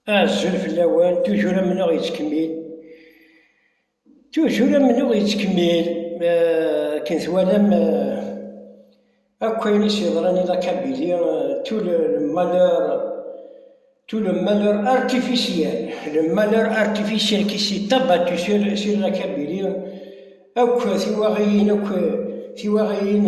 Azul fell-awen, tujur amennuɣ yettkemmil, tujur amennuɣ yettkemmil, akken twalam akk ayen i s-yeḍran i Lakabili, tout le malheur, tout le malheur artificiel, le malheur artificiel qui s'est abattu sur, sur Lakabili, akk tiwaɣiyin, akk tiwaɣiyin,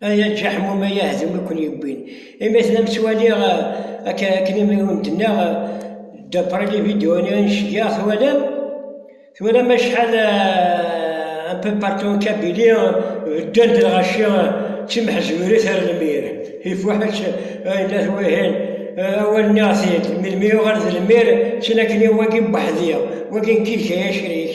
Ay aǧaḥmum ay ahdum i ken-yewwin imi tellam ttwaliɣ akken imi i wen-d-nniɣ d'après les vidéos i n-ceggeɣ twalam twalam acḥal un peu partout en Kabylie beddant lɣaci d timḥezwirit ar lmir ifuḥ-itt ay la twihin awal nniɣ-t-id melmi yuɣal d lmir ttinaken-iw wagi n weḥdi wagi n kid kaya acrik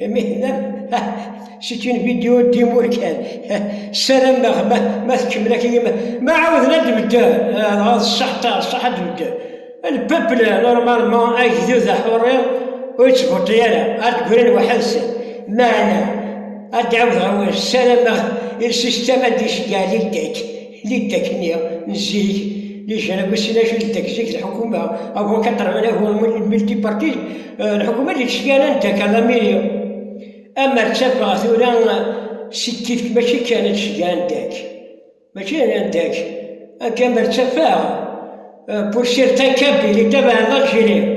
Mihna, c'est une vidéo d'Imourkan. Salam, ma tkemmel akin, ma ɛawden ad d-bedden, dɣa ṣṣeḥta, ṣṣeḥ ad d-bedden. Lpepl, normalement, agdud aḥurri, ur yettvuṭi ara, ad d-grin waḥed-sen. Meɛna, ad d-ɛawdeɣ awal, salam, il système a décidé à l'île d'Aix. Liddak-nni n zik, liǧanab usinac i liddak zik d lḥukuma, avant 89 n multipartite, eh, lḥukuma d leǧyana n Dakar Lamiri. Amer ttafeɣ tura si tifk mačči kan ad tceyya andak. Mačči d andak. Akka amer ttafeɣ, eh, pour certains cas, il est à l'Algérie.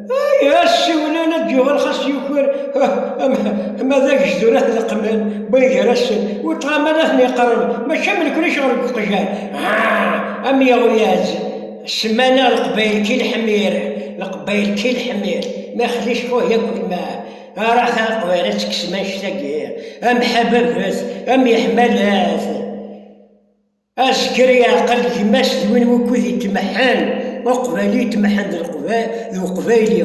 Asiwlan ad d-yuɣal xas yuker ma d agejdur ad t-leqmen win gar-asen, ur ṭṭɣaman ad ten-yeqreb, mačči am nekni ccɣel deg uqjan, am yeɣyaz, ssmana leqbayel ki leḥmir, leqbayel ki leḥmir, ma xli cfuh yak ulma, ara ta leqbayel ad tekksem annect-agi, am ḥababat, am yeḥmalat. Azger yeɛqel gma-s d win wukud yetmeḥḥen uqbayli yetmeḥḥen d uqbayli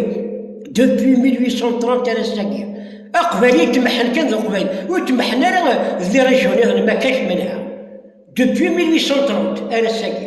depuis 1830 ar ass-agi. Aqbayli yetmeḥḥen kan d uqbayli, ur tmeḥḥen ara d lirejyuniḍen ma kac menha depuis 1830 ar ass-agi.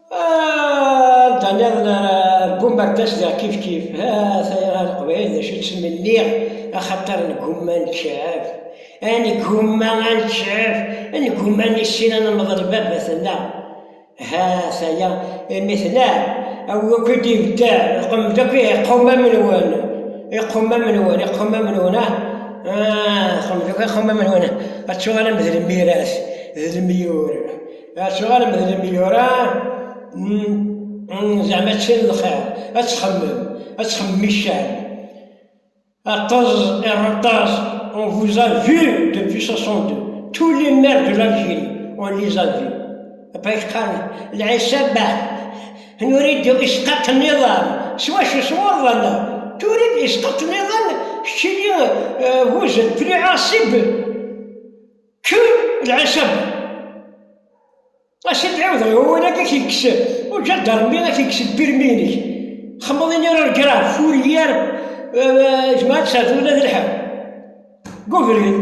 Anda ah, niḍen ara argum ar d-asdeɣ kifkif, ha taya ɣer leqbayel d acu ttmenniɣ, axaṭer negumma nekcaf, a negumma a nekcaf, a negumma nissin ad nemḍel i baba-tenneɣ. Ha taya imi tneɛ, awi akk i d-ibedda, lqem-d akk iqumam-nwen, iqumam-nwen, iqumam-nwen, ah, ah lqem-d akk iqumam-nwen, ad tuɣalem d lmiras, d lemyur. Acuɣer amedlem yura zeɛma ččan lxir, ad txemmem, ad txemmem iccan. Aṭaz, aṭaz, on vous a vu depuis 62, tous les maires de l'Algérie, on les a vu. Apa yeqqaren, lɛisaba, nurid isqaṭ n iḍan, s wacu s wuḍan, turid isqaṭ n iḍan, keččini vuzen, tu les Kker lɛisam! Ass i d-ɛiwdeɣ i wawal akka k-ikkes uǧadarmi ad k-ikkes lpirmi-inek. Xemmeḍ ini ur greɣ, Fourier, jmaɛ ad tesɛeddiḍ ula d lḥew. Deg ubrid,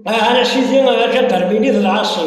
Aha a sidi aǧadarmi-nni d lɛaṣi.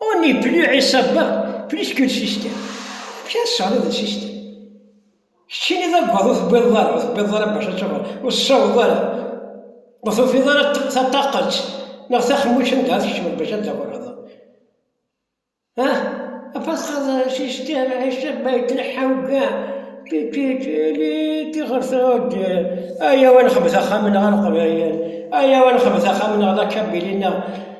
On n'est plus Isabelle, plus qu'une sister. Kra tesɛiḍ d sister. Keččini d aggaḍ ur tewwiḍeḍ ara, ur tewwiḍeḍ ara bac ad tawweḍ, ur tessaweḍ ara. Ur tufiḍ ara taṭaqet neɣ taxemmuct anda ad tkecmeḍ bac ad tawweḍ. Afasxaḍ sister, Isabelle yettneḥḥa ugar. Tiɣer tɛudd, ayaw ad nexbet axxam-nneɣ a Leqbayel, ayaw ad nexbet axxam-nneɣ d akabili-nneɣ.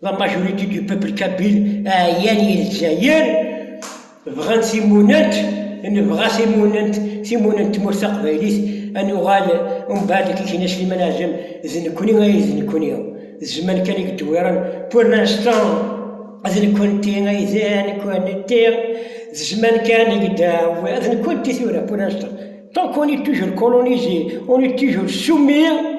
La majorité du peuple kabyle ɛyan i Lezzayer, bɣan timunent, nebɣa timunent, timunent n tmurt taqbaylit, ad nuɣal umbeɛd i k-ikna Sliman Ɛzem, d nekkni ay d nekkni, d zzman kan i yeddewwiren, pour l'instant d nekkenti ay d nekkenti, d zzman kan i yeddewwiren, d nekkenti tura pour l'instant, tant qu'on est toujours colonisé, on est toujours soumis.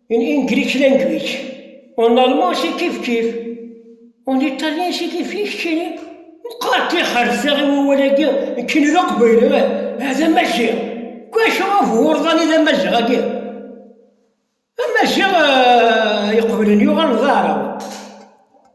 In English language, en allemand si kif kif, en italien si kif kif kini. Meqqar kki xerseɣ i wawal-agi kini d aqbayli, ah, d amaziɣ. Kwacu af wurḍan i d amaziɣ-agi? Amaziɣ eh, iqeblen yuɣal d aɛrab.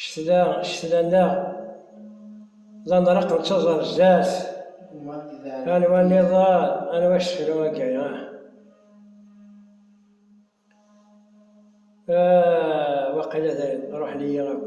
Ccetla, ccetla-nneɣ, d aneṛṛeq nettaẓ ar zdat, anwa nniḍen, anwa asefru agi, ah! Ah! waqila dayen ṛuḥen-iyi akk.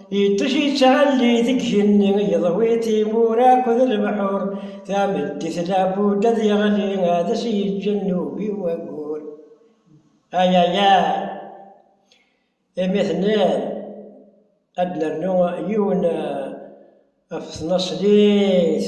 Iṭij yettɛelli deg igenni, yeḍwi timura akked lebḥur, tameddit labud ad yeɣli, ad as-yeǧǧ nnubi waggur. Ayayay! Imi tenniḍ, ad d-nernu yiwen ɣef tnaṣlit.